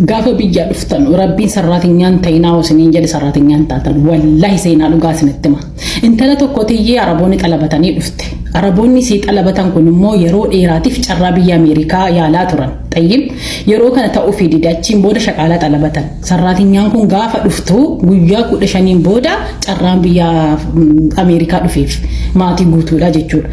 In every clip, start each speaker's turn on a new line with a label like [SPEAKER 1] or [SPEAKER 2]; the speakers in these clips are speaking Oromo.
[SPEAKER 1] Gaafa biyyaa dhuftanu rabbiin sarraatinyaan hin ta'inaa hoo isiniin jedhe sarraatinyaan hin taatan wallahi seenaa dhugaa isinitti hima intala tokko tiyyee araboonni xalabatanii dhufte araboonni isii xalabatan kun immoo yeroo dheeraatiif carraa biyya ameerikaa yaalaa turan xayyib yeroo kana ta'uufii dide achiin booda shaqaalaa xalabatan sarraatinyaan kun gaafa dhuftu guyyaa kudha shaniin booda carraan biyya ameerikaa dhufeef maatii guutuudha jechuudha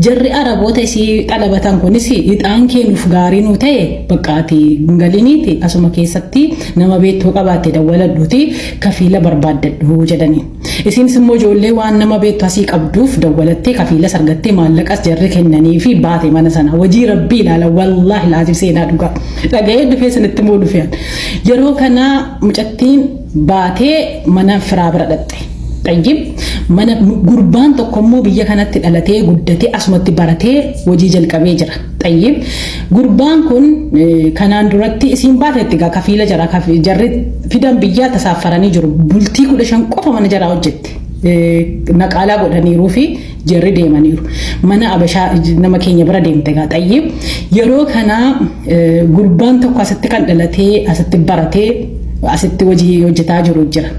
[SPEAKER 1] jarri araboota isii xalabatan kunis ixaan keenuuf gaarii nuu ta'e Baqqa ati hin galiniiti asuma keessatti nama beektu yoo qabaatte dawwaladhuuti kafiila barbaaddadhu jedhani. Isiinis immoo ijoollee waan nama beektu asii qabduuf dawwalattee kafiilas argattee maallaqas jarri kennaniifi baate mana sanaa. Wajii rabbii ilaala wallaahi laaziim seenaa dhugaa. Dhaga'een dhufee isinitti immoo dhufe an. Yeroo kana mucattiin baatee mana firaa bira dhaqxe. Xayyib mana gurbaan tokko immoo biyya kanatti dhalatee guddatee asumatti baratee hojii jalqabee jira. Xayyib gurbaan kun eh, kanaan duratti isiin baatetti gaa kafiila jara kafi- jarri fidan biyyaa tasaaffaranii jiru. Bultii kudha shan qofa mana jaraa hojjette. Eh, Naqaalaa godhaniiruu fi Jarri deemaniiru. Mana abashaa nama keenya bira deemte egaa xayyib. Yeroo kana gurbaan tokko asitti kan dhalatee asitti baratee asitti hojii hojjetaa jiru jira.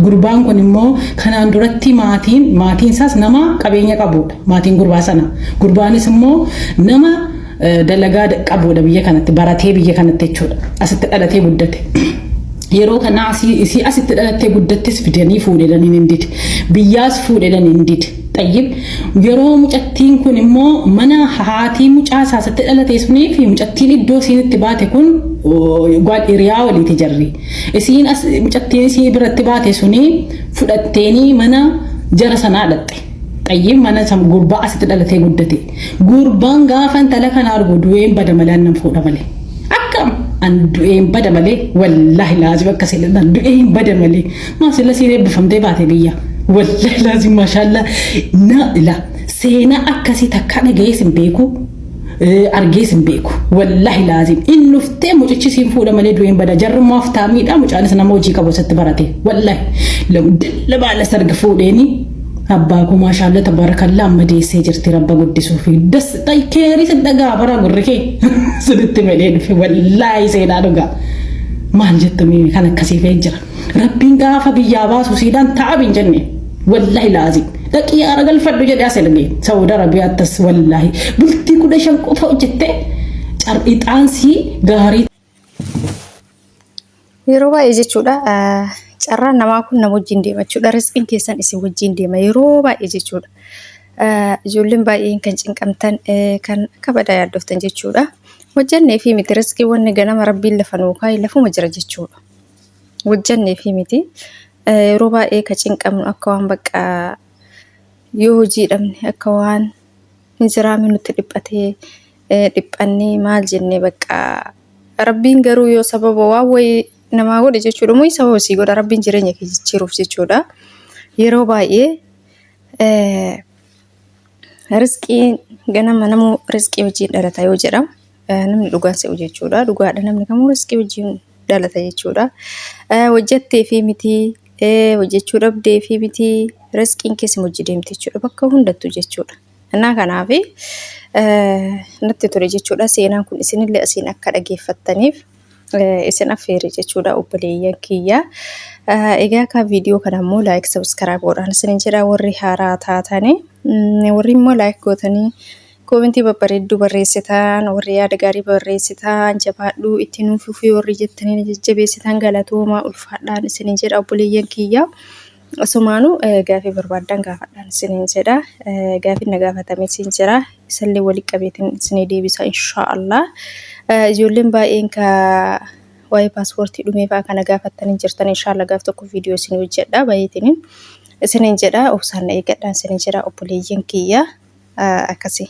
[SPEAKER 1] Gurbaan kun immoo kanaan duratti maatiin maatiin isaas nama qabeenya qabudha. Maatiin gurbaa sana. Gurbaanis immoo nama dalagaa qabuudha biyya kanatti baratee biyya kanatti jechuudha asitti dhalatee guddate. Yeroo kana isii asitti dhalattee guddattis fidanii fuudhedhan hin dide biyyaas fuudhedhan hin dide xayyib yeroo mucattiin kun immoo mana haatii mucaa isaa asitti dhalatee sunii fi mucattiin iddoo isiin itti baate kun gwaad hiriyaa waliiti jarri isiin mucattiin isii biratti baate sunii fudhatteenii mana jara sanaa dhatte. Xayyiin mana san gurbaa asitti dhalatee guddate. Gurbaan gaafa intala kana argu du'een bada malee annan fuudha malee. Akkam an du'een bada malee wallaahi laazim akka seenaa du'een bada malee. Maa sila siin eebbifamtee baate biyya. Wallaahi laazim maashaallaa na ila seenaa akkasii takkaa dhaga'ees hin beeku. argees hin beeku wallahi laazim in dhuftee mucichi siin fuudha malee du'een bada jarrummaa of taamiidha mucaanis nama hojii qabu isatti barate wallahi dalla baala sarga fuudheeni abbaa koo maashaalla tabaarakallaa amma deessee jirti rabba guddisuu fi das keerii sin dhagaa bara gurri kee sunitti malee dhufe wallahi seenaa dhugaa maal jettu miimi kan akkasii fee jira. Rabbiin gaafa biyyaa baasu siidhaan ta'ab hin jenne. Wallahi laazim. Dhaqii haara galfadhu jedhe as erge. Saawud Arabiyaattas wallahi. Bultii kudha shan qofa hojjette car'ixaansii gaarii.
[SPEAKER 2] Yeroo baay'ee jechuudha carraan namaa kun nama wajjin deema jechuudha. Risqiin keessan isin wajjin deema yeroo baay'ee jechuudha. Ijoolleen baay'een kan cinqamtan kan akka badaa yaaddoftan jechuudha. Hojjannee fi miti risqii wanni ganama rabbiin lafa nuu kaa'e lafuma jira jechuudha. hojjannee fi miti yeroo baay'ee ka cinqamnu akka waan bakka yoo hojii dhabne akka waan hin jiraamne nutti dhiphatee dhiphannee maal jennee bakka rabbiin garuu yoo sababa waan wayii namaa godhe jechuudha moo sababa sii godha rabbiin jireenya kee jijjiiruuf jechuudha yeroo baay'ee Risqiin ganama namuu risqii wajjin dhalata yoo jedhamu namni dhugaan se'u jechuudha. Dhugaadha namni kamuu risqii wajjin dhalata jechuudha. Hojjettee fi miti hojjechuu dhabdee fi miti risqiin keessa hojii deemti jechuudha. Bakka hundattu jechuudha. Innaa kanaaf natti tole jechuudha. Seenaan kun isinillee asiin akka dhageeffattaniif. isin affeere jechuudha obboleeyyan kiyya. Egaa kan viidiyoo kana immoo laayik sabiskaraayib godhaan isin jedha warri haaraa taatanii warri immoo laayik gootanii koomentii babbareedduu barreessitaan warri yaada gaarii barreessitaan jabaadhuu itti nuuf fufii warri jettanii jajjabeessitaan galatoomaa ulfaadhaan isin jedha obboleeyyan kiyya. Asumaanuu gaafii barbaaddan gaafadhaan isiniin jedha. Gaafiin na gaafatame siin jira. Isallee walitti qabeetiin isinii deebisa inshaallah. Ijoolleen baay'een ka waa'ee paaspoortii dhumee fa'aa kana gaafattanii jirtan inshaallah gaaf tokko viidiyoo isinii hojjedha baay'eetiin isiniin jedha. Obsaan na eeggadhaan isiniin jedha obboleeyyan kiyya akkasii.